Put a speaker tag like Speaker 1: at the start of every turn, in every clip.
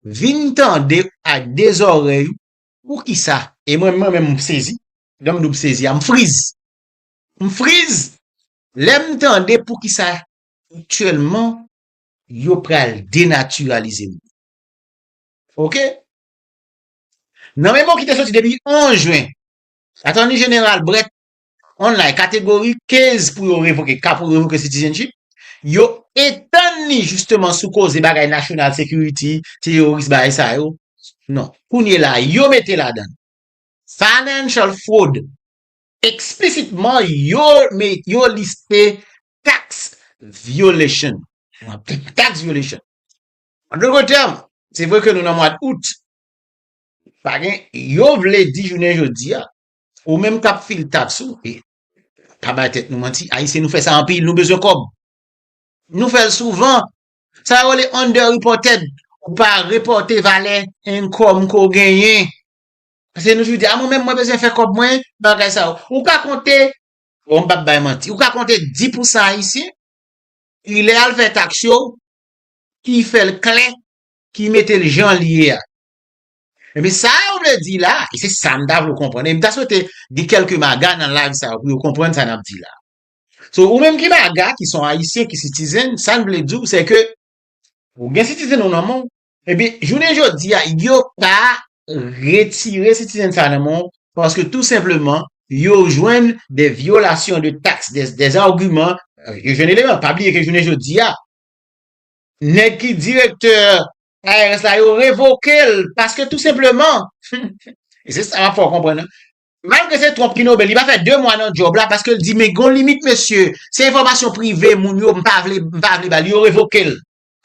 Speaker 1: Vin tande ak 2 zòrèy ou poukisa. E mwen mwen menm m sezi, lè m di w m sezi a m friz. M friz lè m tande poukisa aktyèlman yo pral denatiralize moun. Ok. Nan memo ki te soti depi 11 jen, Atòni Jeneral Brett online kategori 15 pou yo revoke ka pou revoke citizenship yo etann li jisteman sou koze bagay national security teyoris bagay sa yo non kounye la yo mete ladan financial fraud eksplisitman yo yo liste tax violation tax violation an de lòt tèm se vre ke nou nan mwad out pa gen yo vle di jounen jodi a Ou menm kap fil tax ou e pa bay tèt nou manti ayisyen nou fè sa anpil nou bezwen kòb nou fèl souvan sa yo rele under reported ou pa reporte valè income ke w genyen paske nou toujou di a mwen menm mwen bezwen fè kòb mwen bagay sa yo ou ka konte bon m pap bay manti ou ka konte 10 pou san ayisyen ki lè al fè tax yo ki fèl klè ki metel janl ye a Ebyen sa yo vle di la, e se sa m ta vle w konprann, e m ta swete gen kèlke maga nan live sa pou yo konprann sa n ap di la. So, ou menm ki maga, ki son Ayisyen, ki sitizen, sa n vle di w se ke ou gen sitizen ou nan men w, ebyen jounen jodi a yo pa retire sitizen sa nan men w paske tou senpleman yo jwenn de vyolasyon de taks, de agiman, yo jwenn eleman, pa bliye ke jounen jodi a nèg ki direktè IRS la yo revoke l paske tou senpleman, e se sa m ap fè w konprann an, malgre se Trump ki nome l, li pa fè 2 mwa nan djòb la paske l di men gen yon limit mesye, se enfòmasyon prive moun yo m pa vle, m pa vle ba l, yo revoke l.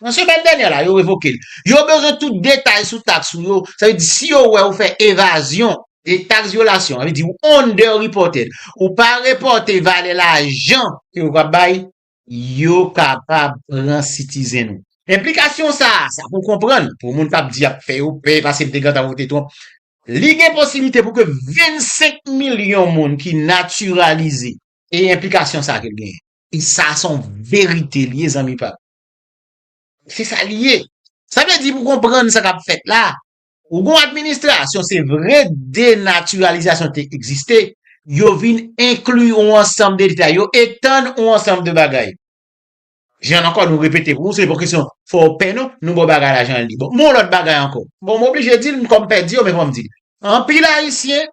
Speaker 1: Nan semèn dènyè la yo revoke l. Yo bezwen tout detay sou taks ou yo, sa vle di si yo wè ou fè evazyon de taks vyolasyon, sa vle di ou underreported, ou pa repòte valè lajan ke yo va bay yo kapab pran sitizen ou. Enplikasyon sa a, sa pou w konprann, pou moun k ap di y ap fè yo pè, pase bde gantan vote Trump, li gen posiblite pou ke 25 milyon moun ki natiralize, e enplikasyon sa a ke l genyen. E sa a se yon verite li ye zanmi pa m. Se sa li ye. Sa vle di pou w konprann sa k ap fèt la, Ou gon administrasyon se vre denatiralizasyon te egziste, yo vin enkli yon ansanm de detay, yo etann yon ansanm de bagay. Jan ankò nou repete pou ou, se pa yon kesyon fò ou pè non, nou ba w bagay la jan l ye. Bon, m ba w yon lòt bagay ankò. Bon, m oblije di l, m kòm pè di yo, men fò m di l. Anpil Ayisyen,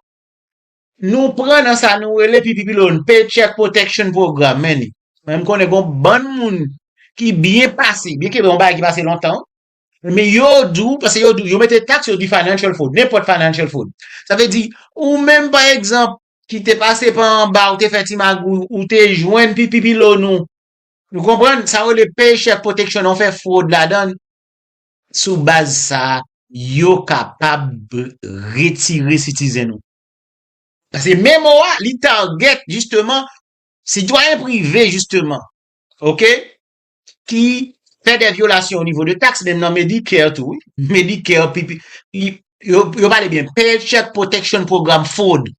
Speaker 1: nou pran nan sa nou rele pi pi pi loun, Paycheck Protection Program, men ni. Men m konnen gon bann moun ki byen pase, byen ke yon bagay ki pase lontan, Ebyen yo diw, paske yo diw, yo mete tax yo di financial fraud, nenpòt financial fraud. Sa vle di, ou menm pa egzanp ki te pase pa anba, ou te fè ti magouy, ou te jwenn pi pi pi lo nou. Nou konprann, sa yo rele paycheck protection nan, ou fè fraud ladan. Sou baz sa, yo kapab retire citizen ou. Paske memo a, li target jisteman sitwayen prive jisteman. Ok? ki fè dè vyolasyon o nivo de taks menm nan Medicare tou wi. Medicare, pp, li, yo, yo pale byen, Paycheck Protection Program Fraud,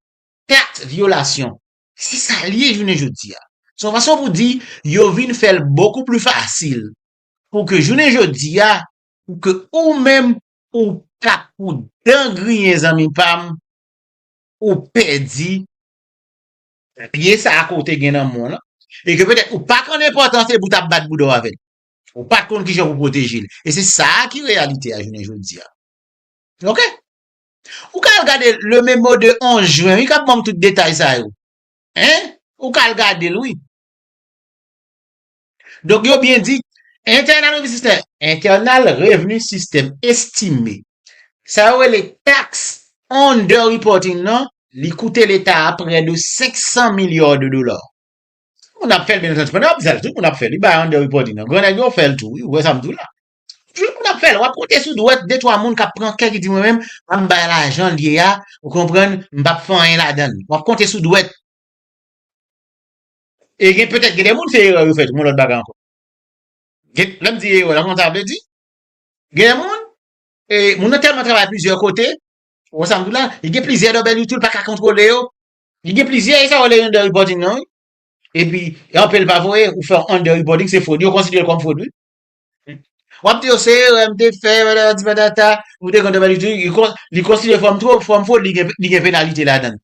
Speaker 1: taks vyolasyon. Se sa l ye jounen jodi a. Se yon fason pou di yo vin fè l bokou pli fasil pou ke jounen jodi a, pou ke ou menm ou pa pou dan griyen zanmi pa m, ou pèdi Pye sa a ke w te gen nan men w lan, e ke petèt ou pa konn enpòtans epi w t ap bat bouda w avè l. Ou pa t konn kijan pou w pwoteje l. E se sa a ki reyalite a jounen jodi a. Ok. Ou ka al gade Le Memo de 11 juin wi k ap ban w tout detay sa yo. Hein? Ou ka al gade l wi. Donk yo byen di, Internal Revenue System, Internal Revenue System, estime, sa yo rele tax underreporting nan, li koute leta a prè de 500 milliards de dollars. Moun ap fè l byen antandu pandan y ap fè l tou moun ap fè l wi bay underreporting nan gran nèg yo fè l tou wi ou wè sa m di w la toujou moun ap fè l w ap konte sou dwèt de twa moun k ap pran kè ki di mwen menm an m bay lajan l ye a ou konprann m p ap fè anyen ladan l w ap konte sou dwèt E gen petèt gen de moun se erè yo fè tou yon lòt bagay ankò. Gen, lè m di erè la, ou konn sa m vle di? Gen de moun, e moun nan tèlman travay plizyè kote, ou wè sa m di w la, li gen plizyè dòbèl youtube l pa ka kontwole yo, li gen plizyè, e sa yo rele under reporting nan wi. E pi, e anpe l pa voye, ou fè yon under reporting se fwod, yo konsidere l kòm fwod wi. W ap di yo se erè m te fè, patati patata, m te gen yon dòbèl youtube, li kon, li konsidere kòm twop, kòm fwod, li gen, li gen penalite ladan l.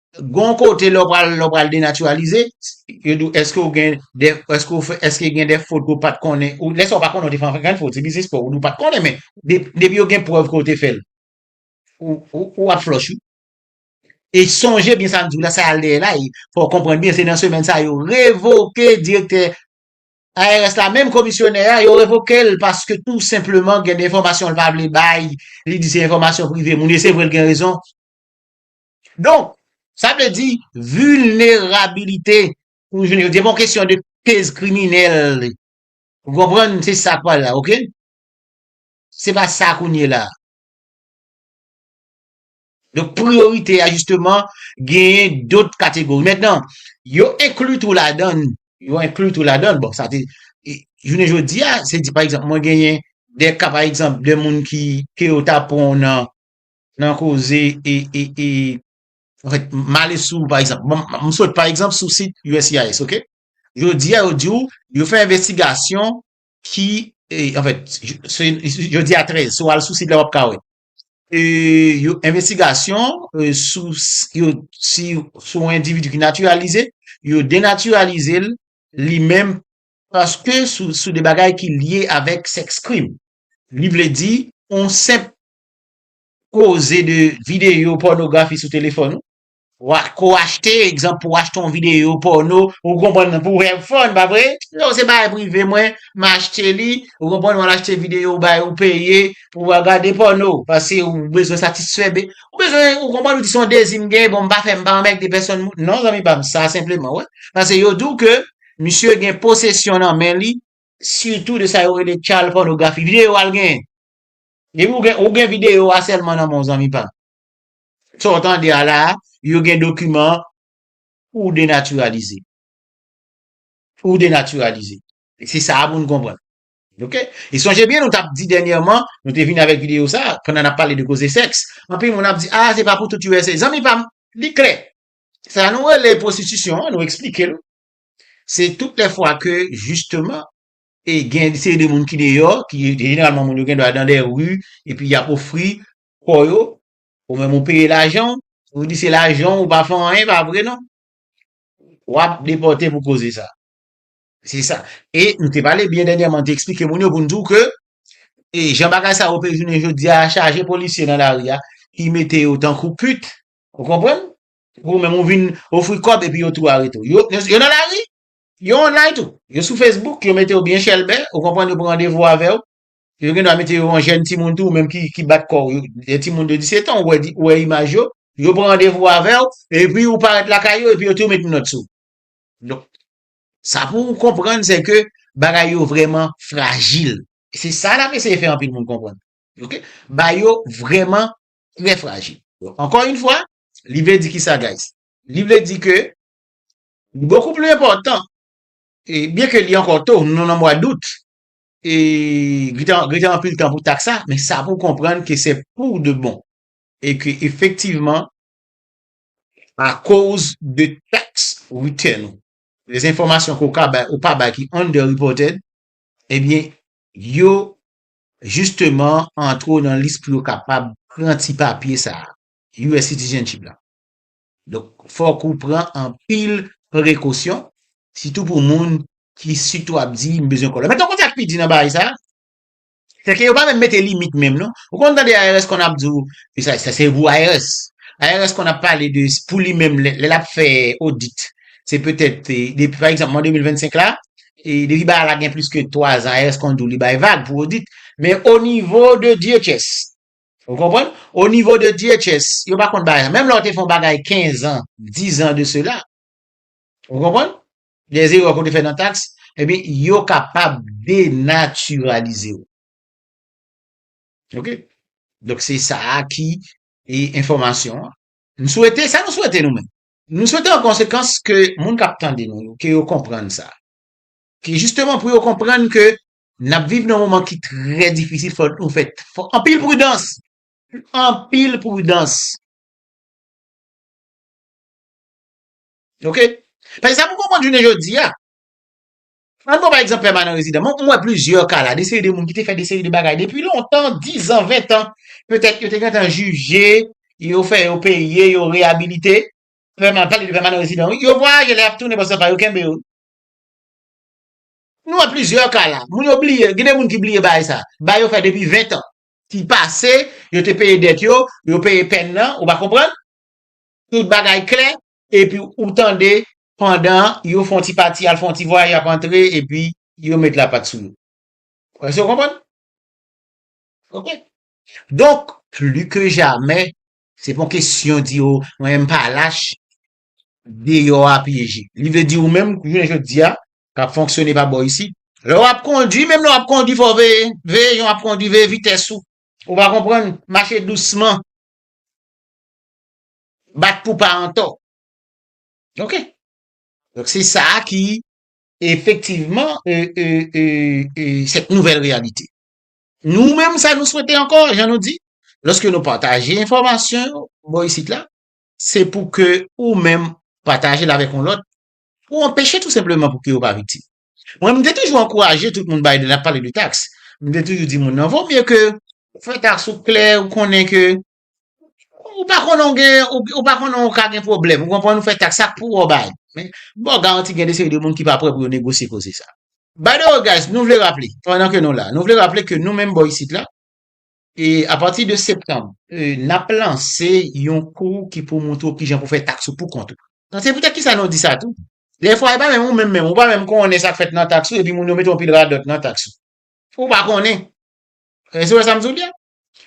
Speaker 1: Gon kote lè w pral denatiralize, yo di w eske w gen de, eske w fè, eske gen de fot ke w pat konnen, ou lè sa w pa konnen w te fè anpil fot, se biznis pa w, ou di w pat konnen men, depi yo gen prèv ke w te fè l, ou ap flòch wi. E sonje byen sa m di w la, sa al dèyè la, fò w konprann byen, se nan semèn sa yo revoke direktè IRS la, menm komisyonè a, yo revoke l paske tou senpleman gen de enfòmasyon l pa vle bay, li di se enfòmasyon prive moun, e se vre l gen rezon. Donk, sa vle di vilnerabilite pou jounen jodi a, se pa yon kesyon de pèse kriminèl. Ou konprann? Se sa k pale la, ok? Se pa sa kounye la. Donk, priyorite a jisteman genyen dot kategori. Mentnan, yo enkli tou ladann, yo enkli tou ladann, bon, sa te, jounen jodi a, se di pa egzanp, mwen genyen de ka pa egzanp de moun ki, ke yo ta pran nan, nan koze e e e anfèt m ale sou pa egzanp m sot pa egzanp sou sit uscis ok jodi a yo di w yo fè envestigasyon ki e anfèt jodi a 13 si w al sou sit la w ap ka wè e yo envestigasyon sou yo si sou yon endividi ki natiralize yo denatiralize l li menm paske sou de bagay ki lye avèk sèks krim li vle di on senp Koze de videyo pònografi sou telefòn ou. Wa ko achte, egzanp pou achte yon videyo pòno, ou konprann nan pou have fun pa vre? Yo se bagay prive mwen, m achte li, ou konprann w al achte videyo ou bay ou peye pou w al gade pòno paske ou bezwen satisfè be, ou bezwen ou konprann ou di son dezi m gen bon m pa fè m pa anmègde pèsòn moun non zanmi pa m sa senpleman wè paske yo di w ke misye gen posesyon nan men li sitou de sa yo rele child pornography videyo al gen Depi ou gen ou gen video a selman nan menw zanmi pam. Sa w tande a la a, yo gen dokiman pouw denatiralize. Pouw denatiralize. Se sa a pou nou konprann. Ok. E sonje byen nou tap di dènyèman, nou te vini avèk video sa a, pandan nap pale de koze sèks, anpil moun ap di a se pa pou tout usa. Zanmi pam, li klè. Sa nou rele pwostitisyon an, nou eksplike l. Se tout lè fwa ke jisteman E gen yon seri de moun ki deyò, ki jeneralman moun yo gen dwa dan dè ri, epi y ap ofri kò yo, ou menm ou peye lajan w, ou di se lajan w, ou pa fè anyen, e pa vre non. W ap depòte pou koze sa. Se sa. E nou te pale byen dènyèman, nou te eksplike moun yo pou nou di w ke e jan bagay sa ope jounen jodi a, chaje polisye nan lari a, ki mete yo tankou pit, ou konprann? Epi ou menm ou vin ofri kòb epi yo tou arete w. Yo nan lari, Yo online tou. Yo sou Facebook, yo mete w byen chèlbè, ou konprann yo pran randevou avè w. Yo gen dwa mete yo yon jèn timoun tou, ou menm ki bat kò w, yon timoun de 17 an, ou wè, ou wè imaj yo, yo pran randevou avè w, epi ou parèt lakay yo, epi yo tou met minòt sou w. Donk, sa pou ou konprann se ke bagay yo vrèman frajil. E se sa n ap eseye fè anpil moun konprann. Ok? Bagay yo vrèman trè frajil. Ankò yn fwa, li vle di kisa guys? Li vle di ke Bokou pli enpòtan, e byen ke li ankò to, nou nan mwa dout, e gen anpil tan pou tak sa, men sa pou konprann ke se pou de bon, e ke efektivman, akoz de tax return ou, de enfòmasyon ke ou ka bay, ou pa bay ki under reported, e byen yo jisteman antre w nan lis pou yo kapab pran ti papye sa, US citizenship la. Donk fòk ou pran anpil prekosyon, sitou pou moun ki sitou ap di m bezwen kòlè. Men tòg kote ak pi di nan bagay sa, se ke yo pa menm mete limit menm non. Ou konn tande IRS konn ap di w, e sa sa se pou IRS. IRS konn ap pale de pou li menm lè lè l ap fè odit, se petèt depi pa egzanp mwa 2025 la, e depi bagay la gen plis ke 3 zan IRS konn di w li bay vag pou odit. Men onivo de DHS, Ou konprann? O nivo de DHS, yo pa konn bagay sa. Menm lè ou te fè yon bagay 15 an, 10 an de sela, ou konprann? Dè zerè ke ou te fè nan taks, ebyen yo kapab denatiralize ou. Ok? Donk se sa a ki e enfòmasyon an. M swete, sa nou swete nou menm? Nou swete an konsekans ke moun k ap tande nou yo, ke yo konprann sa. Ke jisteman pou yo konprann ke Nap viv nan moman ki trè difisil fòk nou fè anpil pridans! Anpil pridans! Ok! Paske sa pou konprann jounen jodi a, an pran pa egzanp pèmanan rezidan, mwen wè plizyè ka la, de seri de moun ki te fè de seri de bagay depi lontan, dizan, ventan, petèt yo te gentan jije, yo fè yo peye, yo reyabilite, pèmanan, pale de pèmanan rezidan wi, yo vwayaje lè yap tounen paske se pa yo kenbe yo. Nou wè plizyè ka la. Moun yo bliye, gen de moun ki bliye bagay sa. Bagay yo fè depi 20 tan. Ki pase, yo te peye dèt yo, yo peye pèn nan, ou pa konprann? Tout bagay klè, epi ou tande pandan yo fon ti pati al fon ti vwayaj y ap antre epi yo met lapat sou yo. Èske ou konprann? Ok. Donk, pli ke jamè, se pa yon kesyon di o mwen menm m pa lach, deyò a pyeje. Li vle di ou menm jounen jodi a k ap fonksyone pa bò isit. Lè w ap kondui, menm lè w ap kondui fò w veye, veye jan w ap kondui, veye vitès ou. Ou va konprann, mache dousman. Bat pou pa antò. Ok. Donk se sa a ki efektivman sèt nouvèl reyalite. Nou menm sa nou swete ankò, jan nou di, lòske nou pataje enfòmasyon yo bò isit la, Se pou ke ou menm pataje l avèk yon lòt pou anpeche tou senpleman pou ke yo pa viktim. Mwen m te toujou ankouraje tout moun bay lè n ap pale de taks. M te toujou di moun nan vo mye ke ou fè taks ou klè ou konnen ke ou pa konnen ou gen ou pa konnen ou ka gen pwoblèm ou konprann ou fè taks sa k pou wè bay men m ba w garanti gen de seri de moun ki pa prè pou yo negosye koze sa. By the way guys nou vle raple pandan ke nou la nou vle raple ke nou menm bò isit la E apati de septanm, n ap lanse yon kou ki pou montre w ki jan pou fè taks ou pou kont ou. Donk se poutèt ki sa nou di sa tou. Dè fwa e pa menm ou menm menm, ou pa menm konnen sa k fèt nan taks ou epi moun yo mete yon pil radòt nan taks ou. Ou pa konnen. Èske ou wè sa m di w li a?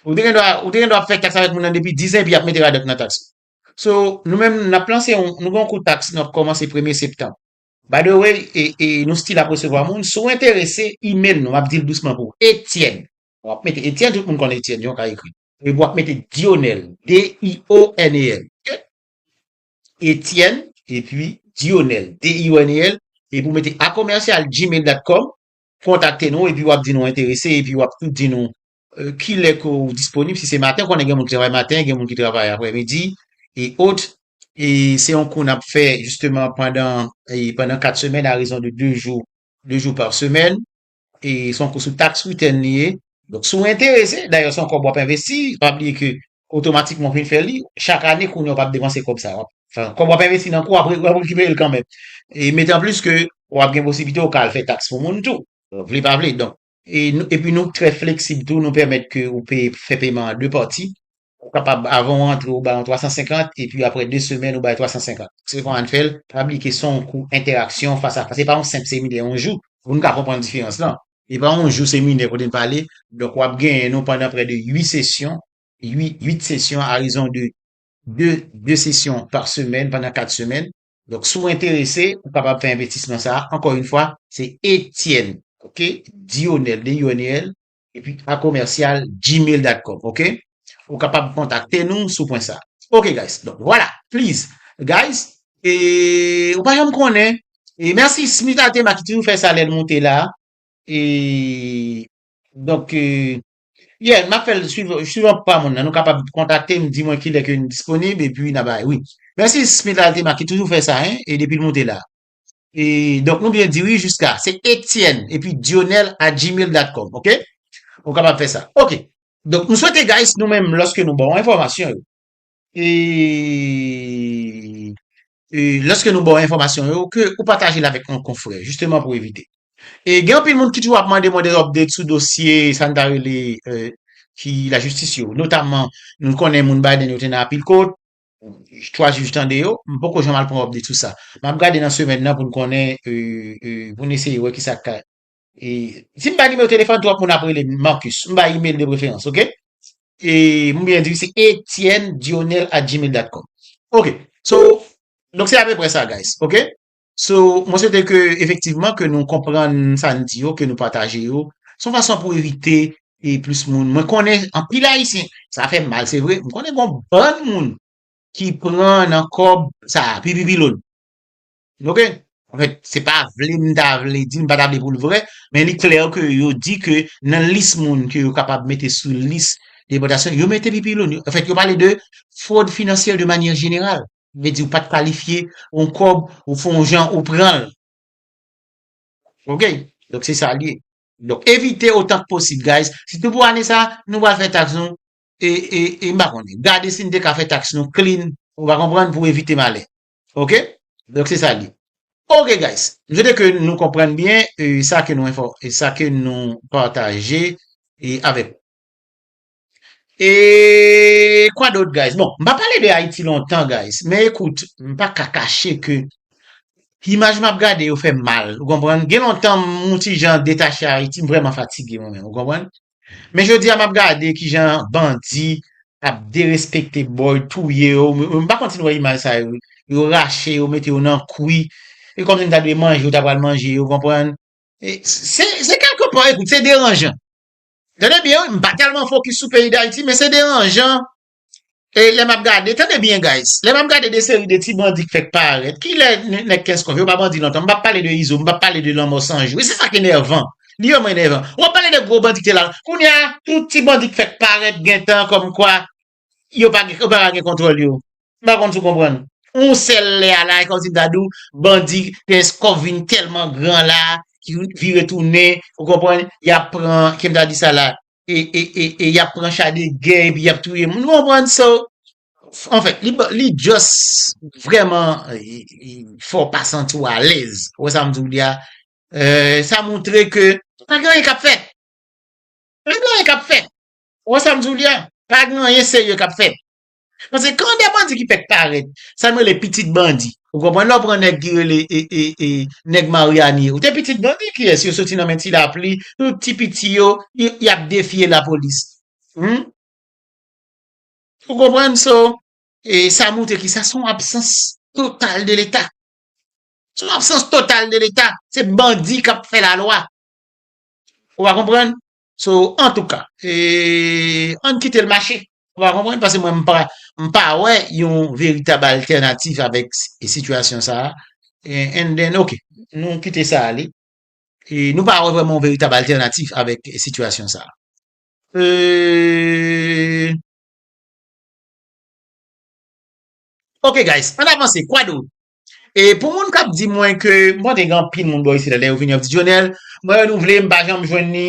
Speaker 1: Ou te gen dwa, ou te gen dwa ap fè taks avèk moun nan depi 10 an epi y ap mete radòt nan taks ou. So, nou menm n ap lanse yon, nou gen yon kou taks nou ap kòmanse premye septanm. By the way, e, e nou stil ap resevwa moun, si w enterese, email nou, m ap di l dousman pou ou, Etienne. W ap mete Etyèn, tout moun konn Etyèn, yon ka ekri. Epi w ap mete Dyonèl, D-i-o-n-e-l, ok? Etyèn, epi Dyonèl, D-i-o-n-e-l, epi w mete a commercial gmail dot com, kontakte nou, epi w ap di nou enterese, epi w ap tou di nou ki lè ke w disponib, si se maten, konnen gen moun ki travay maten, gen moun ki travay aprè midi, e ot. E se yon kou n ap fè jisteman pandan, pandan 4 semèn a rezon de 2 jou, 2 jou par semaine. E se yon kou sou taks return li ye. Donk si w enterese, dayè se yon kòb w ap envesti, pa bliye ke otomatikman w fin fè li, chak ane kounye a w pa ap depanse kòb sa. Kòb w ap envesti nan kou a, w ap rekipere l kanmenm. E metanplis ke w ap gen posiblite w ka al fè taks pou moun tou. Vle pa vle. Donk, epi nou trè fleksib tou, nou pèmèt ke ou peye, fè peman an 2 pati. Ou kapab avan ou antre ou bay yon 350 epi aprè 2 semèn ou bay 350. Se kòman n fè l, tabli ke son kou entèraksyon fas a fas. Se pa yon senp seminè yon jou pou n ka konprann diferans lan. Se pa yon jou seminè kote n pale. Donk w ap genyen nou pandan prè de 8 sesyon, 8 sesyon a rezon de 2, 2 sesyon pa semèn pandan 4 semèn. Donk si w enterese, ou kapab fè envestisman sa a. Ankò yon fwa, se Etienne, ok, Dionel, D-I-O-N-E-L, epi a commercial gmail dat com ok ou kapab kontakte nou sou pwen sa ok guys donk vwala please guys e ou pa janm konnen e merci smith atema ki toujou fè sa lèl moute la e donk e Yeah, map fèl swiv, swiv anpl pa moun nan, nou kapab kontakte m di mwen kilè ke n disponib epi na bay wi. Mèsi Smith Altima ki toujou fè sa hein e depi l moute la. E donk nou byen di wi jiska. Se Etienne epi Dionel at gmail dot com ok. Ou kapab fè sa. Ok. Donk m swete guys nou menm lòske nou ba w enfòmasyon yo. E E lòske nou ba w enfòmasyon yo ke ou pataje l avèk yon konfrè. Jisteman pou evite. E gen anpil moun ki toujou ap mande mwen de update sou dosye sa n ta rele ki lajistis yo. Notamman nou konnen moun Biden yo te nan anpil kot. 3 jij tande yo, m poko janm al pran update sou sa. Map gade nan semèn nan pou n konnen, pou n eseye wè kisa k ka. Si m bay nimewo telefòn, twòp moun ap rele m, Marcus. M bay email de preferans, ok? M oubyen di se Etienne Dionel at gmail dot com. Ok, so, donk se apeprè sa guys, ok? So, mwen swete ke efektivman ke nou konprann sa n di yo, ke nou pataje yo. Se yon fason pou evite e plis moun. Mwen konnen anpil Ayisyen, sa fè m mal se vre, m konnen gon bann moun ki pran nan kòb sa a, pi pi pilonn. Ok? Anfèt, se pa vle m ta vle di, m pa ta vle pou l vre, men li klè ke yo di ke nan lis moun ke yo kapab mete sou lis depòtasyon, yo mete pi pilonn. Anfèt, yo pale de fraude financière de manière générale. Vle di ou pat kalifye yon kob ou fè yon jan ou pranl ok donk se sa li ye donk evite otan k posib guys sitou pou ane sa nou pral fè tax nou e m pa konnen gade si n te ka fè tax nou clean ou va konprann pou evite malè ok donk se sa li ye ok guys m swete ke nou konprann byen sa ke nou sa ke nou pataje avèk ou. E kwa dot guys? Bon, m pa pale de Ayiti lontan guys, men ekout, m pa ka kache ke imaj m ap gade yo fè m mal, ou konprann? Gen lontan m yon ti jan detache Ayiti, m vrèman fatige mwen menm, ou konprann? Men jodi a m ap gade ki jan bandi ap derespekte bòy, touye yo, m pa konn si nou wè imaj sa yo, yo rache yo, mete yo nan kwi, e kòm si m ta dwe manje yo ta pral manje yo, ou konprann? Se kèlke pò, ekout, se deranjan. Tande byen wi, m pa tèlman fokis sou peyi Dayiti men se deranjan e lè m ap gade, tande byen guys, lè m ap gade de seri de ti bandi k fèk parèt, kilè nèg Kenskòf yo pa bandi lontan, m p ap pale de Izo, m p ap pale de Lanmò 100 jou, e se sa k enèvan, li vrèman enèvan. W ap pale de gwo bandi ki te la, kounye a tout ti bandi k fèk parèt gentan kòmkwa yo pa yo pa ka gen kontwòl yo. M pa konn si w konprann. Yon sèl lè a la, e kòmsi m ta di w, bandi Peskov vin tèlman gran la, ki vire tounen, ou konprann, y ap pran, ki m ta di sa la, e, e, e, e y ap pran cha de gè epi y ap touye moun. Ou konprann? So, anfen, li ba, li jòs vrèman fè w pa santi w alèz. Ou wè sa m di w li a? Sa montre ke pa gen anyen k ap fèt. Pa gen anyen k ap fèt. Ou wè sa m di w li a? Pa gen anyen serye k ap fèt. Paske kan dè bandi ki fèk parèt, sa m rele pitit bandi. Ou konprann? Lè w pran nèg ki rele e nèg Maryani yo te pitit bandi kiyès yo soti nan men ti lapli, tout ti piti yo y ap defye lapolis. Humm. Ou konprann? So, e sa montre ki sa? Se yon absans total de leta. Se yon absans total de leta. Se bandi k ap fè lalwa. Ou a konprann? So antouka eee ann kite l mache. Ou pa konprann paske mwen m pa wè yon veritab altènatif avèk sitiyasyon sa a and then ok nou kite sa ale e nou pa wè vrèman yon veritab altènatif avèk sitiyasyon sa a. Eee. Ok guys ann avanse kwadwo E pou moun k ap di mwen ke, m panse gen anpil moun bò isit la, lè yo vini yo ap di, Dionel, mwen renouvle, m pa janm jwenn li.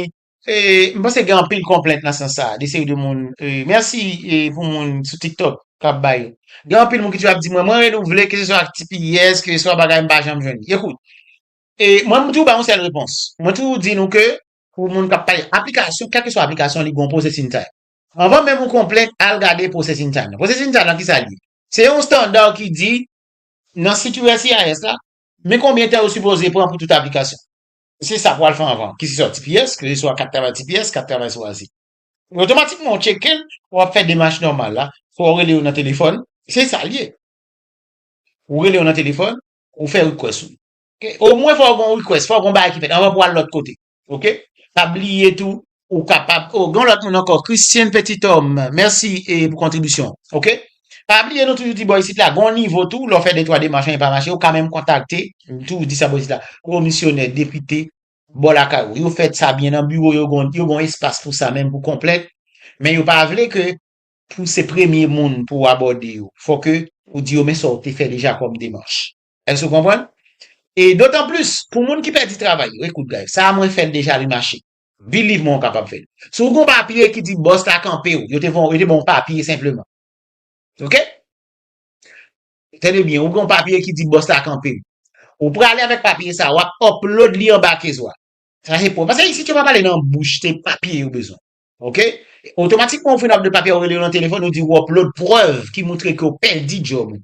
Speaker 1: E, m panse gen anpil konplent nan sans sa a, de seri de moun. E, mèsi pou moun sou TikTok k ap bay. Gen anpil moun ki toujou ap di mwen, mwen renouvle, keseswa ak tps, keseswa bagay, m pa janm jwenn li. Ekout, e, mwen m toujou bay yon sèl repons. Mwen toujou di nou ke, pou moun k ap pale aplikasyon, kèlkeswa aplikasyon li gen yon processing time. Anvan menm ou konplent, al gade processing time nan. Processing time nan, ki sa l ye? Se yon standard ki di nan sit uscis la men konbyen tan yo sipoze pran pou tout aplikasyon. Se sa pou al fè anvan, ki se swa tps, ki se swa kat travay tps, kat travay sou azil. Otomatikman ou tcheke l, w ap fè demach nòmal la, swa ou rele yo nan telefòn, se sa l ye. Ou rele yo nan telefòn, ou fè request ou. Omwen fò w gen yon request, fò w gen yon bagay ki fèt anvan pou w al lòt kote. Ok, pa bliye tou ou kapab, oh gen yon lòt moun ankò, Christian Petit Homme, mèsi e pou kontribisyon w, ok. Pa bliye nou toujou di bò isit la, gen yon nivo tou, lè w fè de twa demach anyen pa mache, ou ka menm kontakte, m toujou di sa bò isit la, komisyonè, depite, bò lakay ou. Yo fè sa byen nan biwo yo, gen yo gen yon espas pou sa menm pou konplèt, men yo pa vle ke pou se premye moun pou w abòde yo, fò ke ou di yo men sa w te fè deja kòm demach. Èske ou konprann? E dotan plis, pou moun ki pèdi travay yo, ekout guys, sa a mwen fè l deja li mache. Believe mwen ou kapab fè l. Si w gen yon papye ki di bòs la kanpe w, yo te van w, yo te ban w yon papye senpleman. Ok? Tande byen, ou gen yon papye ki di bòs la kanpe w. Ou prale avèk papye sa a, w ap upload li anba case wa. Sa se prèv. Paske isit yo pa pale nan bouch, se papye yo bezwen. Ok? Otomatikman ou fin upload papye a, ou rele yo nan telefòn, ou di ou upload prèv ki moutre ke ou pèdi djòb ou.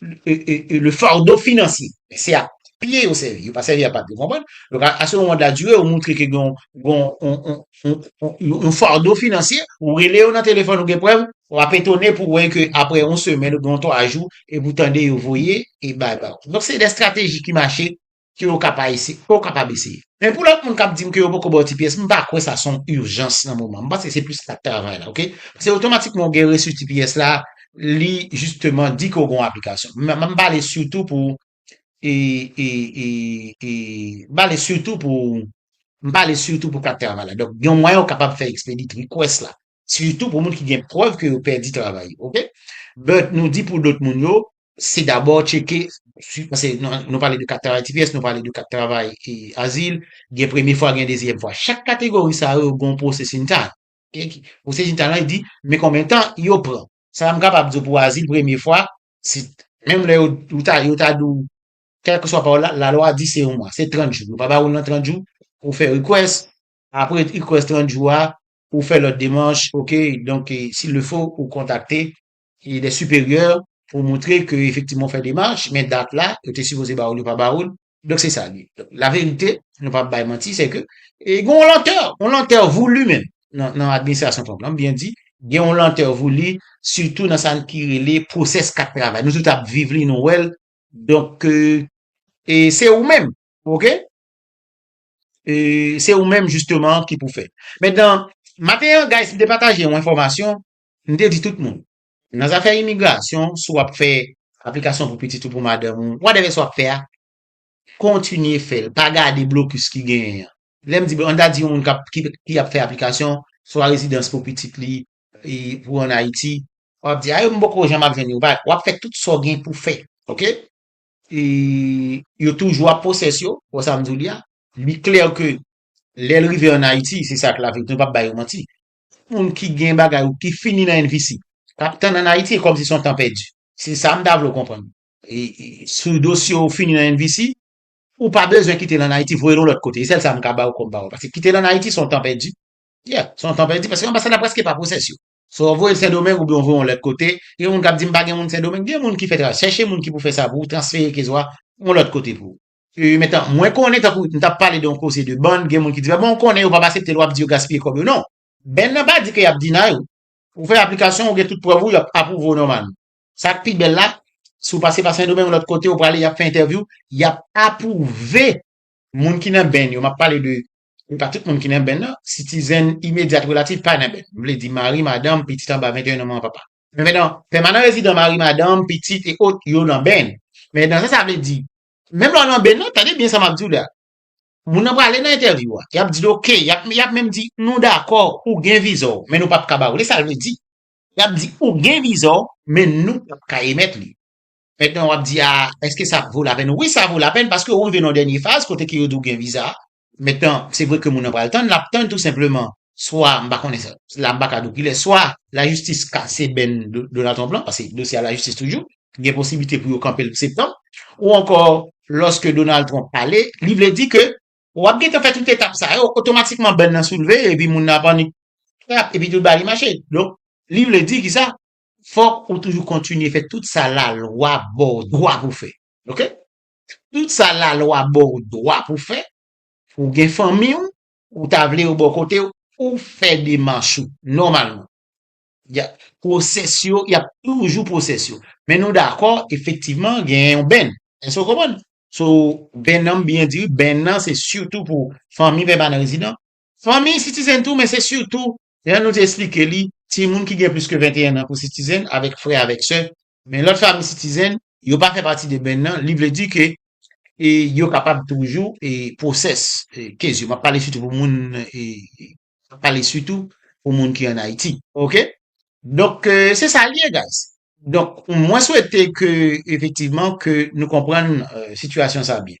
Speaker 1: le fardo financier. Men se ak pye yo sèvi, yo pa sèvi ak papye, ou konprann? Donk a a se moman de la durée ou montre ke gen yon yon yon fardo financier, ou rele yo nan telefòn ou gen prèv, w ap etone pou wè ke aprè yon semèn oubyen yon 3 jou, epi ou tande yo voye e bay ba ou. Donk se de strateji ki mache ke ou ka pa ese, ke ou kapab eseye. Men pou lòt moun kap dim ke yo poko baw ti pyès, m pa kwè sa son urgence nan moman, m panse se plis kat travay la ok, se otomatikman ou gen resu ti pyès la, li jisteman di ke ou gen yon aplikasyon. M ap pale sitou pou e e e e m pale sitou pou m pale sitou pou kat travay la, donk yon mwayen ou kapab fè expedit request la, Sitou pou moun ki gen prèv ke yo pèdi travay yo ok. But nou di pou lòt moun yo se dabò tcheke si pase nou pale de kat travay tps nou pale de kat travay e azil gen premye fwa gen dezyèm fwa chak kategori sa yo gon processing time ok. Processing time lan di men konbyen tan yo pran sa m kapab di w pou azil premye fwa se menm lè yo ta yo ta di w kèlkeswa pawòl la lalwa di se yon mwa se 30 jou yo pa ba w nan 30 jou pou w fè request apre request 30 jou a Ou fè lòt demanch ok donk s'il le faut ou kontakte. Des supérieurs pou moutre ke efektivman ou fè demanch men dat la yo te sipoze ba ou l yo pa ba ou l. Donk se sa li ye. Donk la verite nou pa bay manti se ke gen yon lantè, yon lantè voulu menm nan administrasyon Trump lan, m byen di gen yon lantè voulu sitou nan sa ki rele process kat travay. Nou tout ap viv li nou wè l donk e se ou menm ok. se ou menm jisteman ki pou fè. Mètnan, maten an, guys, m te pataje yon enfòmasyon, m te di tout moun, nan zafè imigrasyon, si w ap fè aplikasyon pou pitit ou, pou madanm ou, whatever sa w ap fè a, kontinye fè l, pa gade blokis ki genyen an. Lè m di blokis, an ta di yon moun k ap, ki ap fè aplikasyon, swa rezidans pou pitit li, pou an Ayiti, w ap di, a yo m poko janm ap jwenn yo, w ap fè tout sa w gen pou fè, ok? E yo toujou ap poses yo, wè sa m di w li a? Li klè ke lè l rive an Ayiti, se sa k la verite, m pap bay yo manti. Tout moun ki gen bagay ou ki fini nan NVC, k ap tann an Ayiti, e kòmsi se yon tan pèdi. Se sa m ta vle w konprann. E si dosye w fini nan NVC, ou pa bezwen kite l an Ayiti, voye l yon lòt kote. E sèl sa m ka ba w kòm pawòl. Paske kite l an Ayiti se yon tan pèdi. Yeah, se yon tan pèdi paske anbasad la prèske pa poses yo. So w voye l Sendomeng oubyen w voye yon lòt kote, gen moun k ap di m pa gen moun Sendomeng, gen moun ki fè travay, chèche moun ki pou fè sa pou ou, transfere ke zwa yon lòt kote pou ou. Ee mentan, mwen konnen tankou n t ap pale de yon koze de band, gen moun ki di m bon ou konnen yo p ap asepte l w ap di yo gaspiye kòb yo, non, band nan pa di ke y ap deny ou, ou fè aplikasyon w, ou gen tout prèv ou, y ap apwouve w nòmalman. Sa k pi bèl la, si w pase pa Sendomeng lòt kote ou prale y ap fè entèvyou, y ap apwouve moun ki nan band yo, m ap pale de e pa tout moun ki nan benn nan, sitizèn imedyat relatif pa nan benn, m vle di mari, madanm, pitit anba 21 an manman papa. Sepandan, pèmanan rezidan mari, madanm, pitit e ot yo nan benn. Men nan sa sa vle di, menm lè w nan benn nan, tande byen sa m ap di w la, moun nan prale nan entèvyou a, y ap di l ok, y ap y ap menm di nou dakò ou gen viza w men nou pap ka ba w li, sa l vle di. Y ap di ou gen viza w men nou pap ka emèt li. Mètnan wap di a eske sa vo la pèn? Wi sa vo la pèn paske ou rive nan dènye faz kote ke yo di ou gen viza. Mètnan se vre ke moun nan pral tann, lap tann tou senpleman swa m pa konnen sa, la m pa ka di w kilè, swa lajistis kase bèn Donald Trump lan paske dosye a lajistis toujou, gen posiblite pou yo kanpe l pou septanm, ou ankò lòske Donald Trump pale li vle di ke wap gentan fè tout etap sa yo, otomatikman bèn lan soulve epi moun nan ap annik, trap epi tout bagay li mache. Donk li vle di kisa? Fòk ou toujou kontinye fè tout sa lalwa ba w dwa pou w fè. Ok. Tout sa lalwa ba w dwa pou w fè, pou w gen fanmi w, ou ta vle yo bò kote w, ou fè demach ou nòmalman. Ya, pwosès yo, y ap toujou pwosès yo. Men nou dakò, efektivman, gen yon bènn. Èske w konprann? So, bènn an, m byen di wi, bènn an se sitou pou fanmi pèmanan rezidan, Fanmi Citizen tou men se sitou, jan nou te esplike li, timoun ki gen plis ke 21 an pou Citizen avèk frè avèk sè, men lòt fanmi Citizen yo pa fè pati de band nan, li vle di ke yo kapab toujou process case yo, m ap pale sitou pou moun m ap pale sitou pou moun ki an Ayiti ok, donk se sa l ye guys, donk mwen swete ke efektivman ke nou konprann sitiyasyon sa byen.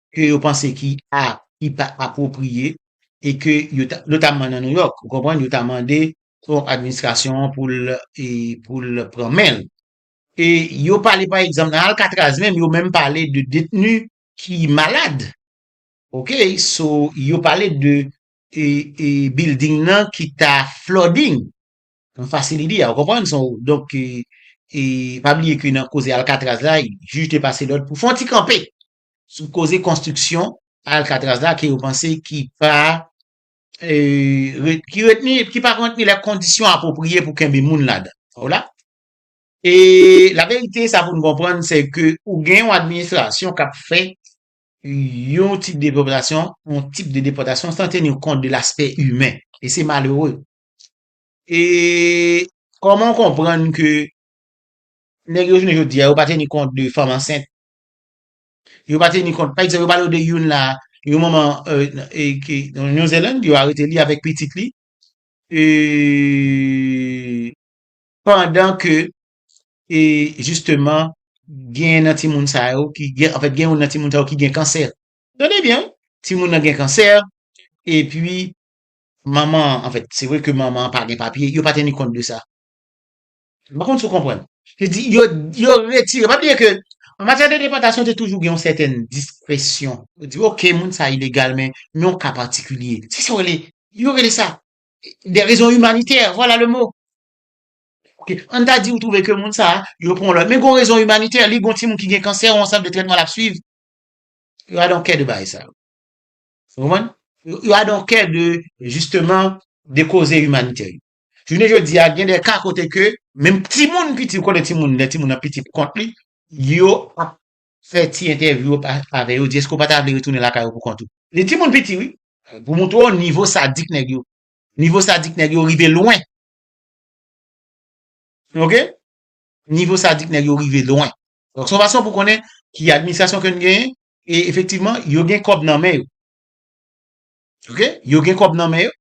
Speaker 1: ke yo panse ki a, ki pa apwopriye, e ke yo ta, notamman nan New York, ou konprann, yo ta mande Trump administrasyon an pou l, e, pou l pran men l. E yo pale pa egzanp nan Alcatraz menm, yo menm pale de detni ki malad. Ok, so, yo pale de, e, e building nan ki ta flooding, nan facility a, ou konprann, so, donk, e, e pa bliye ke nan koze Alcatraz la, jij te pase lòd pou fè yon ti kanpe, sou koze konstriksyon Alcatraz la ke yo panse ki pa ki retni ki pa kontni lè kondisyon apwopriye pou kenbe moun ladan ou la e la verite sa pou nou konprann se ke ou gen yon administrasyon kap fè yon tip de popilasyon yon tip de depòtasyon san teni kont de laspè imen e se malere e kòman w konprann ke nèg yo jounen jodi a yo pa teni kont de fanm ansent Yo pa teni kont. Pa egzanp, yo pale w de youn la, yon manman ki nan New Zealand, yo arete li avèk pitit li, pandan ke jisteman gen youn nan timoun sa yo ki gen, anfèt gen youn nan timoun sa yo ki gen kansè. Tande byen wi, timoun nan gen kansè, epi manman an, anfèt se vre ke manman an pa gen papye, yo pa teni kont de sa. M pa konn si w konprann. Se di yo yo retire. Pa bliye ke an matyè de depòtasyon te toujou gen yon sèten diskresyon. Yo di ok moun sa ilegal men nan yon ka patikilye. Se sa yo rele yo rele sa de rezon imanitè. Vwala le mo. Ok an ta di ou twouve ke moun sa yo pran yon lòt men gen yon rezon imanitè. Li gen yon timoun ki gen kansè yon sant de trètman l ap swiv. Yo a don kè de bagay sa yo. Ou konprann? Yo a don kè de jisteman de koze imanitè yo. Jounen jodi a gen de ka kote ke menm timoun piti, ou konnen timoun, lè timoun nan piti pou kont li, yo ap fè ti entèvyou yo avè yo, di èske ou pa ta vle retounen lakay ou pou kont ou? Li timoun piti wi, pou montre w nivo sadik nèg yo. Nivo sadik nèg yo rive lwen. Ok? Nivo sadik nèg yo rive lwen. Donk se yon fason pou konnen ki administrasyon ke n genyen, e efektivman yo gen kòb nan men yo. Ok? Yo gen kòb nan men yo,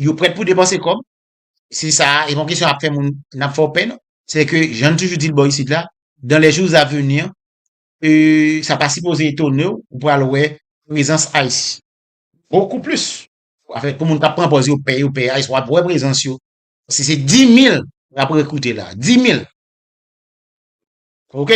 Speaker 1: yo prèt pou depanse kòb, se sa a, e pa yon kesyon ap fè moun, n ap fè w pè non. Se ke, jan n toujou di l bò isit la, dans les jours à venir, sa pa sipoze etone w, ou pral wè prezans ice bokou plis. Afè pou moun k ap pran pòz yo pè, yo pè ice, w ap wè prezans yo. Se 10 mil y ap rekrite la, 10 mil. Ok!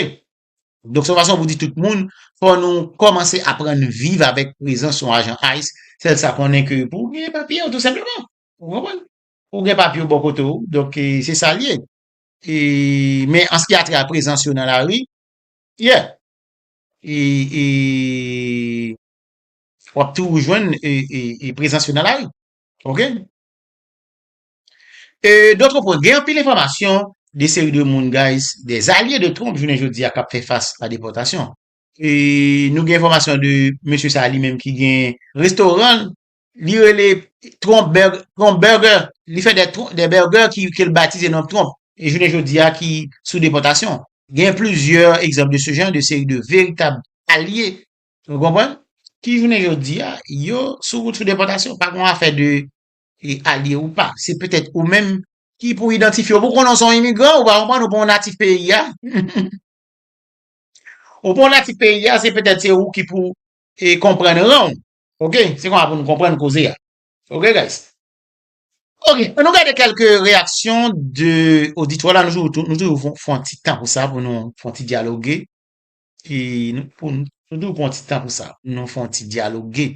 Speaker 1: Donk se yon fason pou di tout moun, fò nou kòmanse aprann viv avèk prezans yon ajan ice, sèl sa konnen ke pou ou genyen papye yo tou senpleman, ou konprann? Pou ou gen papye yo bò kote ou, donk se sa l ye. E, men an se ki a trè a prezans yo nan lari, yeah, e, e, w ap toujou jwenn e, e, e prezans yo nan lari. Ok? E d'autre part gen anpil enfòmasyon de seri de moun guys de zalye de Trump jounen jodi a kap fè fas a depòtasyon. E nou gen enfòmasyon de mesye sa li menm ki gen restoran l li rele Trump burger li fè de burger ke l batize non Trump e jounen jodi a ki sou depòtasyon. Gen plizyè egzanp de se jan de seri de veritab alye nou konprann ki jounen jodi a yo sou wout sou depòtasyon pa gon afè de e alye ou pa, se petèt ou menm ki pou idantifye w pou w konnen w se yon imigran, ou pa konprann, ou pa yon natif peyi a. Ou pa yon natif peyi a, se petèt se ou ki pou e konprann ran w. Ok, se konsa pou nou konprann koze a. Ok guys. Ok, annou gade kèlke reyaksyon de oditwa la, nou toujou fon fon ti tan pou sa, pou nou fon ti dyaloge, e nou pou nou toujou pran ti tan pou sa, pou nou fon ti dyaloge.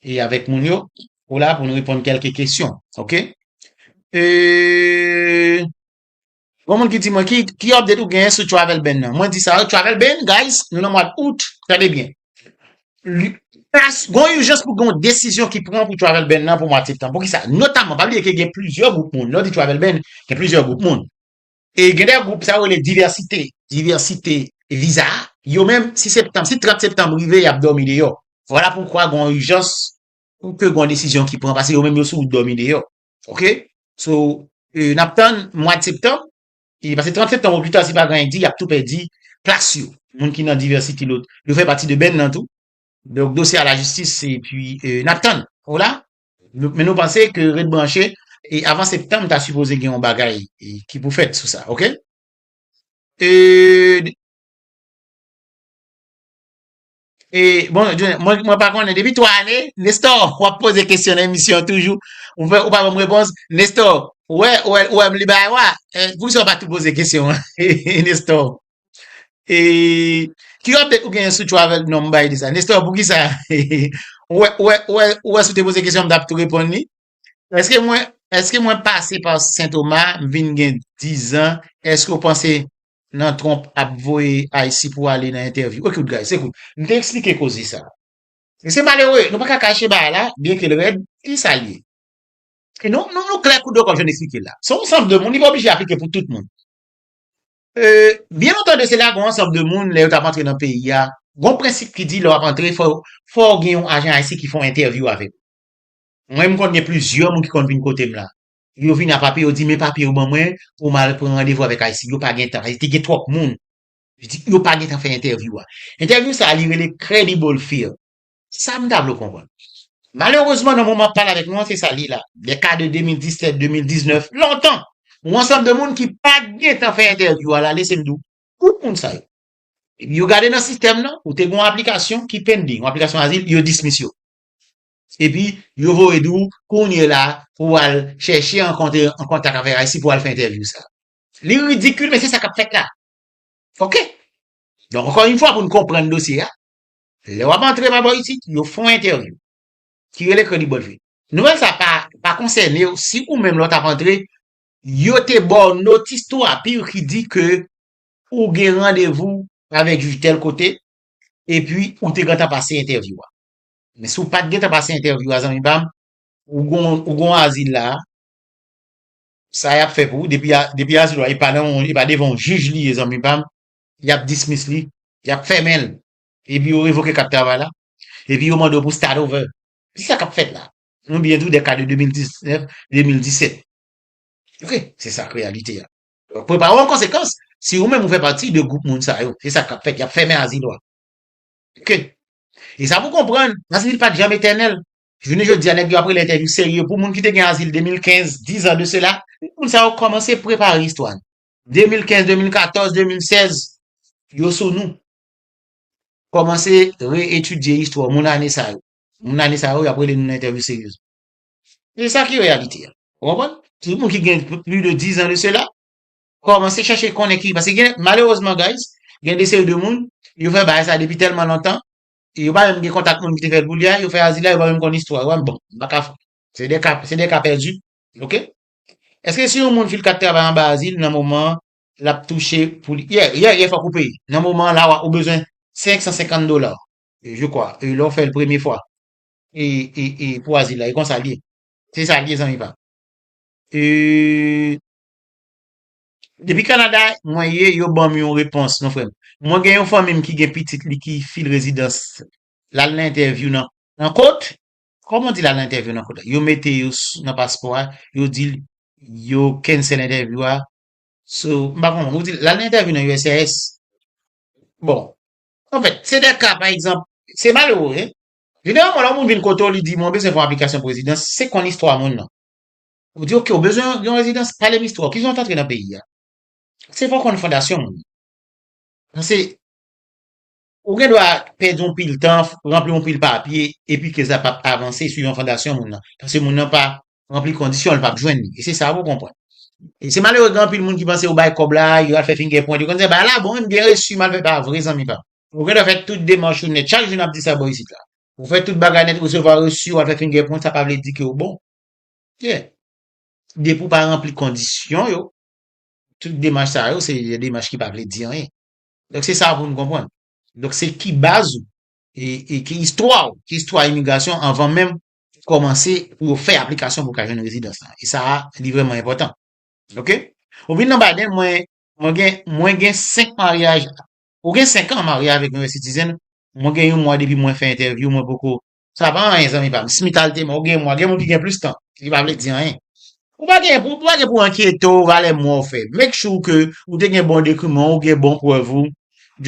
Speaker 1: E avèk moun yo. Ou la pou nou reponn kèlke kesyon. Ok. E. Gon moun ki di mwen ki ki update ou genyen sou travel ban nan. Mwen di sa yo travel ban guys nou nan mwad out. Tande byen. Li pas gon ijans pou gon desizyon ki pran pou travel ban nan pou mwad septanm. Poukisa? Notamman pa bliye ke gen plizyè gwoup moun. Lè ou di travel ban gen plizyè gwoup moun. E gen de gwoup sa yo rele divèsite, diversité, viza a, yo menm si septanm, si 30 septanm rive y ap dòmi deyò. Vwala poukwa gon ijans pou ke gon desizyon ki pran pase yo menm yo sou wout dòmi deyò. Ok. So, n ap tann mwad septanm, e pase 30 septanm o pi ta si pa gen anyen k di y ap tou pèdi plas yo. Moun ki nan divèsite lôt, yo fè pati de benn nan tou. Donk dosye a lajistis e pi n ap tann. Hola? Men nou panse ke ret branche e avan septanm ta sipoze gen yon bagay ki pou fèt sou sa ok. Euhh. Euhh bon Johnny mwen pa konnen depi 3 ane Nestor wap poze kesyon nan emisyon toujou ou pa banm repons Nestor ou wè ou wèm li bay wa poukisa ou pa tou poze kesyon an Nestor. E ki update ou genyen sou travel non m bay li sa. Nestor poukisa ou wè ou wè ou wè ou wè si w te poze kesyon m tap tou reponn li. Eske mwen eske mwen pase pa Saint Thomas m vin gen 10 ans eske w panse nan Trump ap voye Aysi pou ale nan entèvyou. Ok guys ekout m te eksplike koze sa. E se malere nou pa ka kache bagay la byen ke l rèd li sa l ye. E nou nou klè kou de kòb jan m eksplike l la. Se yon sanble moun li pa oblije aplike pou tout moun. Byen lontan de sela, gon ansanm de moun lè yo tap antre nan peyi a, gon prensip ki di lè wap antre fò ou gen yon ajan ayisyen ki fè yon entèvyou avèk ou. Mwen menm konn gen plizyè moun ki konn vin kotem la. Yo vin a papye, yo di men papye yo ban mwen pou mal pran randevou avèk ayisyen. Yo pa gentan, paske te gen twòp moun. Yo pa gentan fè entèvyou a. Entèvyou sa li rele credible fear. Sa m ta vle w konprann. Malerezman nan moman m ap pale avèk nou an se sa l ye la. Dè ka de 2017, 2019, lontan, yon ansanm de moun ki pa t gen tan fè entèvyou al ale se m di w, tout moun sa yo, yo gade nan sistèm nan, ou te gen yon aplikasyon ki pending, yon aplikasyon azil, yo dismiss yo. Epi yo voye di w kounye la pou w al chèche an kontak avèk ICE pou w al fè entèvyou sa. Li ridikil men se sa k ap fèt la. Ok. Donk ankò yon fwa pou n konprann dosye a, Lè wap antre pa bò isit, yo fon entèvyou. Ki rele kredi bòt vit. Nouvèl sa pa pa konsènew si ou menm lè w tap antre yo te baw notis tou apiw ki di ke ou gen randevou avèk jij tèl kote epi ou te gentan pase entèvyou a. Men si w pat gentan pase entèvyou a zanmi pam ou gon ou gon azil la a sa yap fè pou ou depi a depi azil ou a e pa nan e pa devan yon jij li ye zanmi pam yap dismiss li yap fèmen l Epi yo revoke kat travay la. Epi yo mande w pou start over. Se sa k ap fèt la. Ou byen di w, dè ka de 2019, 2017. Ok, se sa k reyalite a. Prepare w an konsekans, si ou menm ou fè pati de gwoup moun sa yo. Se sa k ap fèt, y ap fèmen azil ou a. Ok. E sa pou w konprann, azil pa t janm etènèl. Jounen jodi a, nèg yo ap rele entèvyou serye pou moun ki te gen azil 2015, dizan de sela. Moun sa yo kòmanse prepare istwa. 2015, 2014, 2016, yo sou nou. Kòmanse re-etidye istwa moun ane sa yo. Moun ane sa yo, y ap rele nou nan entèvyou serye. Se sa ki reyalite a. Ou konprann? Tout moun ki gen plis de dizan de sela, kòmanse chèche konnen ki. Paske gen, malerezman guys, gen de seri de moun, yo fè bagay sa depi tèlman lontan, yo pa menm gen kontak moun ki te fè l pou li a, yo fè azila, yo pa menm konn istwa yo a, m bon, m pa ka. Se de ka, se de ka pèdi. Ok? Èske si yon moun fil kat travay anba azil nan moman an, lap touche pou li yeah yeah yeah fòk ou peye nan moman an la wa ou bezwen 550 dola je kwa e lè w fè l premye fwa e e e pou azil la e konsa l ye se sa l ye zanmi pam e depi Canada mwen ye yo banm yon repons non frè m mwen gen yon fanmi m ki gen pitit li ki fil rezidans l al nan entèvyou nan nan kot kòman w di l al nan entèvyou nan kot yo mete yo nan paspò a yo di l yo kensèl entèvyou a Sou, m pa konprann, ou di l al nan entèvyou nan uscis? Bon, anfèt, se de ka, pa egzanp, se malere wi. Jeneralman lè yon moun vin kote w li di mwen bezwen fè yon aplikasyon pou rezidans, se konn istwa moun nan. Ou di ok, ou bezwen yon rezidans, pale m istwa w, kijan w t antre nan peyi a? Se fò w konn fondasyon moun nan. Pase, Ou gen dwa pèdi yon pil tan, ranpli yon pil papye, epi ke sa pap avanse sou yon fondasyon moun nan. Paske moun nan pa ranpli kondisyon, li pap jwenn li. E se sa pou konprann. E se malere gen anpil moun ki panse yo bay kòb la, yo al fè fingè pwent, yo konn se bay la bon, wi m byen resi, m al fè pa vre zanmi pa m. Ou gen dwa fè tout demach ou nèt, chak jou nap di sa bò isit la. Ou fè tout bagay nèt, resevwa resi, w al fè fingè pwent, sa pa vle di ke ou bon. Kè. Depi ou pa ranpli kondisyon yo, tout demach sa yo se demach ki pa vle di anyen. Donk se sa pou nou konprann. Donk se ki baz ou e ki istwa ou, ki istwa imigrasyon anvan menm kòmanse pou yo fè aplikasyon pou ka jwenn rezidans la. E sa a li vrèman enpòtan. Ok? Ou vin nan Biden, mwen mwen gen mwen gen 5 maryaj, ou gen 5 an marye avèk yon US citizen, mwen gen yon mwa depi mwen fè entèvyou mwen poko Sa pa anyen zanmi pam. Smitha te mò ou gen mwa gen moun ki gen plis tan li pa vle di anyen. Ou pa gen pou ou pa gen pou enkyete w valè mwa ou fè make sure ke ou te gen bon dekriman w ou gen bon prèv ou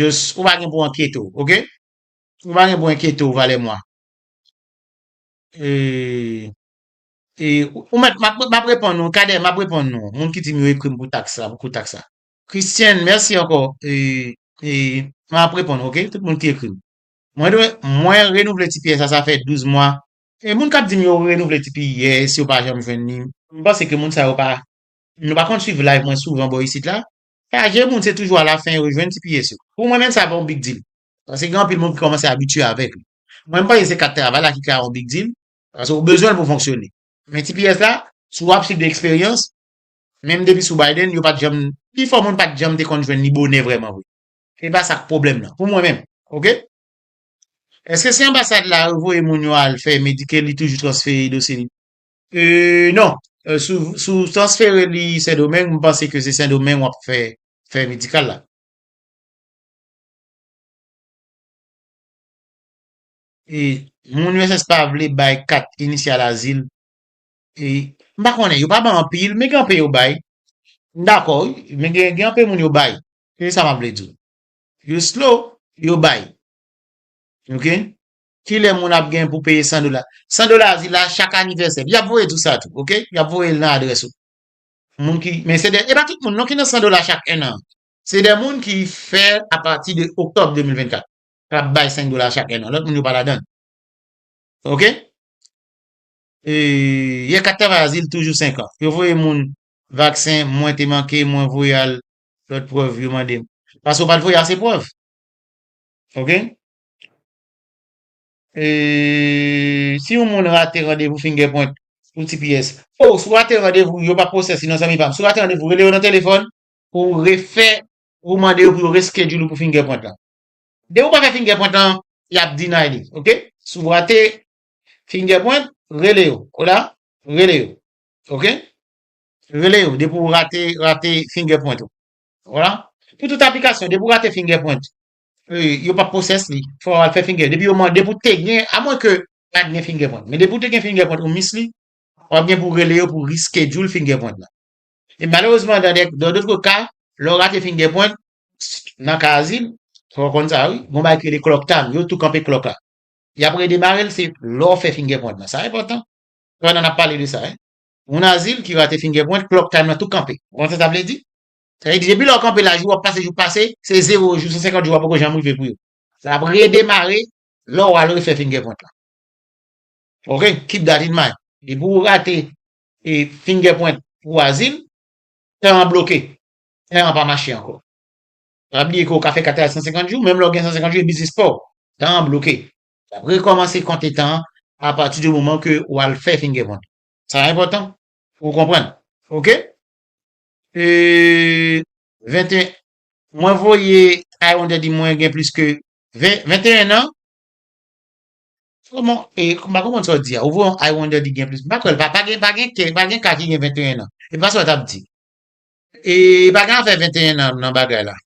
Speaker 1: just ou pa gen pou enkyete w ok ou pa gen pou enkyete w valè mwa e e ou mèt map reponn ou Cadet map reponn nou moun ki di m yo ekri m pou taks la pou kou taks la Christian mèsi ankò e e map reponn ou ok tout moun ki ekri m. Mwen dwe mwen renouvle tps la sa fè 12 mwa. E moun kap dim yo renouvle tps yo pa janm jwenn li m panse ke moun sa yo pa nou pa konn swiv live mwen souvan bò isit la chaje moun se toujou alafen yo jwenn tps yo pou mwen menm sa pa yon big deal paske gen anpil moun ki kòmanse abitye avèk li mwen m panse se kat travay la ki ka yon big deal paske ou bezwen l pou fonksyone men tps la si wap swiv de eksperyans menm depi sou Biden yo pat janm pifò moun pat janm te konn jwenn li bonè vrèman vre. E pa sa k pwoblèm nan pou mwen menm ok. Eske se anbasad la yo voye moun yo al fè men di ke li toujou transfere dosye li? Euh non si w transfere li sendomeng m panse ke se sendomeng w ap fè fè medikal la. E moun uss pa vle bay kat inisyal azil e m pa konnen yo pa bay anpil men gen anpe yo bay m dakò wi men gen anpe moun yo bay Ki sa map vle di w? Yo slow, yo bay. Ok. Kilè moun ap gen pou peye 100 dola? 100 dola a di la chak anivèsè. Yap voye tout sa tou. Ok. Yap voye l nan adrès ou. Moun ki, men se de, e pa tout moun non ki nan 100 dola chak 1 an. Se de moun ki fè a pati de oktòb 2024. Kap bay 5 dola chak 1 an. Lòt moun yo pa ladan. Ok. E, yè kat travay a di l toujou 5 an. Yo voye moun vaksen, mwen te manke, mwen voye al Lòt prèv yo mande. Pase ou pa t voye ase prèv. Ok. E si yon moun rate randevou Fingerprint pou tps. Oh, si w rate randevou, yo pa pwosès li non zanmi pa m. Si w rate randevou, rele yo nan telefòn pou w refè, pou w mande yo pou yo reschedule ou pou Fingerprint lan. Depi w pa fè Fingerprint lan, y ap deny li. Ok. Si w rate Fingerprint, rele yo. Hola? Rele yo. Ok. Rele yo depi w rate rate fingerprint ou. Voila. Pou tout aplikasyon, depi w rate fingerprint, yo pap process li. Fò w al fè finger. Depi yo mande pou te gen, a mwen ke pat gen fingerprint. Men depi w te gen fingerprint ou miss li, wap gen pou rele yo pou reschedule fingerprint la. E malerezman dan dè dan dotre ka, lè w rate fingerprint, nan ka azil, fò w konn sa wi, gon bagay ki rele clock time, yo tou kanpe clock la. Yap redemare l se lè w fè fingerprint la. Sa enpòtan. Pandan nap pale de sa. Moun azil ki rate fingerprint, clock time lan tou kanpe. Ou konprann sa sa vle di? Sa vle di depi lè w kanpe la jou ap pase jou pase, se zewo jou, 150 jou a poko janm rive pou yo. Sa ap redemare lè w al refè fingerprint lan. Ok, keep that in mind. Depi ou rate fingerprint pou azil, tan an bloke. Tan an pa mache ankò. Pa bliye ke ou ka fè kat la 150 jou, menm lè w gen 150 jou e biznis pa w. Tan an bloke. L ap rekòmanse konte tan an apati di moman ke ou al fè fingerprint lan. Sa enpòtan pou ou konprann. Ok. E 21 mwen voye a yon dèdi mwen gen plis ke 20 21 an. Kòman e m pa konprann sa w di a. Ou voye yon a yon dèdi gen plis. M pa kwè l pa pa gen pa gen ke pa gen ka ki gen 21 an. E pa sa w t ap di. E pa gen afè 21 an nan bagay la.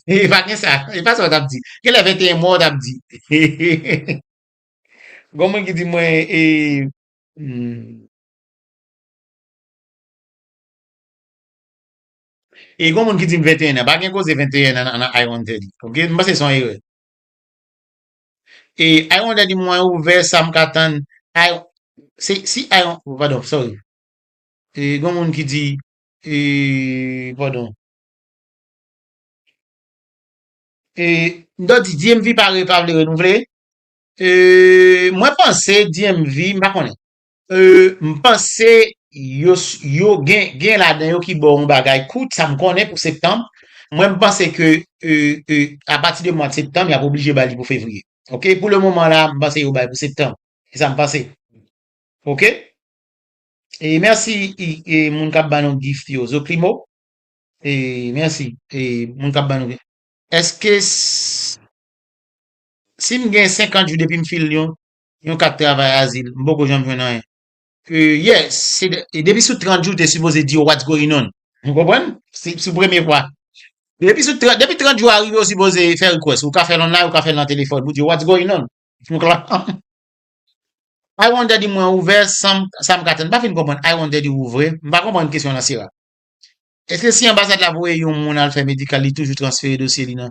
Speaker 1: E pa gen sa. E pa sa w t ap di. Gen lè 21 mwa w t ap di. Gon mwen ki di mwen e E gon moun ki dim 21 nan, pa gen koze 21 nan nan I won't tell you, ok, m panse son erè. E I won't tell you mwen ouvè sa m ka tann, I, se, si I won't, oh padon, sorry. E gon moun ki di, e, padon. E, m ta di DMV pa re, pa vle renouvle. Euh mwen panse DMV m pa konnen. Euh m panse yo yo gen gen ladan yo ki baw yon bagay kout sa m konnen pou septanb mwen m panse ke euh euh apati de mwad septanb yap oblije ba li pou fevriye ok pou le moman la m panse yo bay pou septanb se sa m panse ok e merci e moun kap ba nou gift yo zoklimo e merci e moun kap ba nou eske Si m gen 50 jou depi m fil yon yon kat travay azil, m poko janm jwenn anyen. Uhh yes, se depi sou 30 jou te sipoze di yo what's going on. Ou konprann? Se sou premye fwa. Depi sou 30, depi 30 jou a rive ou sipoze fè request. Ou ka fèl online, ou ka fèl nan telefòn pou di yo what's going on. Ou konprann? I want daddy mwen ouvè san m sa m ka tann. M pa fin konprann I want daddy ouvre. M pa konprann kesyon an nan sera. Eske si anbasad la voye yon moun al fè medikal li toujou transfere dosye li nan.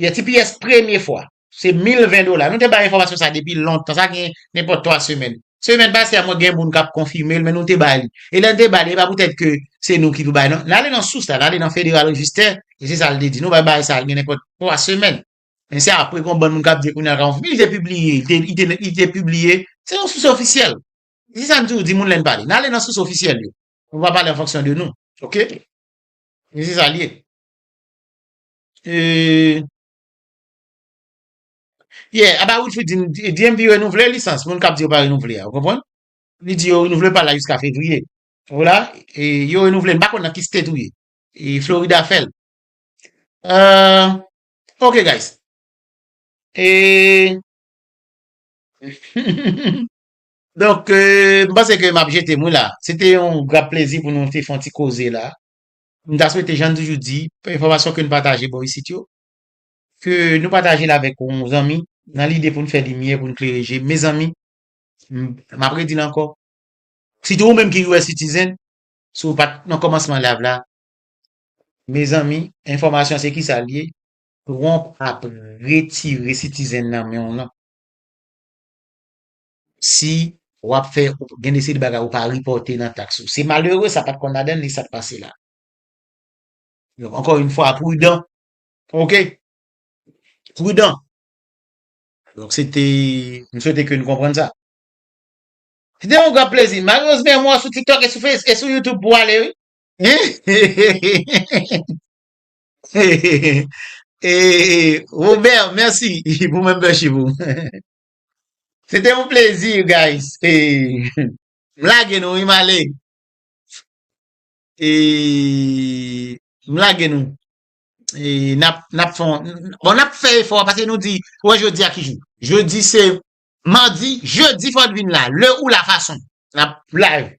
Speaker 1: Yè tps premye fwa, se 1020 dola. Nou te bay enfòmasyon sa depi lontan, sa gen nenpòt 3 semèn. Semèn pase a mwen gen moun k ap konfime l men nou te ba li. E lè n te ba li, e pa poutèt ke se nou ki pou bay non. N ale nan sous la, n ale nan Federal Register, e se sa l te di. Nou bay bagay sa gen nenpòt 3 semèn. Men se apre gen yon bann moun k ap di kounye a l ka konfime. Li te pibliye, li te pibliye, se yon sous ofisyèl. Se sa m toujou di moun lè n pale. N ale nan sous ofisyèl yo. Nou pa pale an fonksyon de nou. Ok? Men se sa l ye. Eee. Yeah, aba Wilfrid di n, DMV renouvle lisans moun k ap di yo pa renouvle a. Ou konprann? Li di yo renouvle l pa la jiska fevriye. Ou la? E yo renouvle l. M pa konn nan ki state ou ye. E Florida fè l. Ahh. Ok guys. Eee. Donk, m panse ke m ap jete m wi la. Se te yon grap plezi pou nou te fè yon ti koze la. M ta swete jan n toujou di, enfòmasyon ke n pataje bò isit yo, ke nou pataje l avèk yon zanmi nan lide pou n fè limyè, pou n klere je. Mezanmi, m ap redi l ankò, sitou ou menm ki US citizen, si w pa t nan kòmansman layv la, mezanmi, enfòmasyon se kisa l ye, Trump ap retire citizen nan men w lan. si wap fè gen de seri de bagay ou pa reporte nan tax ou se malere sa pat konn ladann li sak pase la donk ankò yn fwa prudan ok prudan donk se te m swete ke nou konprann sa se te yon gran plezi malerez men mwen sou tiktok e sou face e sou youtube pou ale wi Robert merci pou membership ou. Se te yon plezi you guys. M lage nou wi m ale. M lage nou. Nap fon. Bon nap fè efò pase nou di ou wè jodi a ki jou. Jodi se madi. Jedi fòt vin la. Le ou la fason. Nap live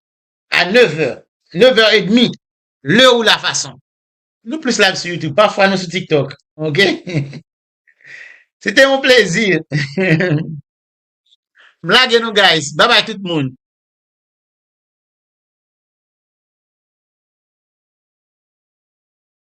Speaker 1: a 9 vè. 9 vè e demi. Le ou la fason. Nou plis live sou youtube. Pafwa nou sou tiktok. Ok. Se te yon plezi. M lage nou guys. Bye bye tout moun.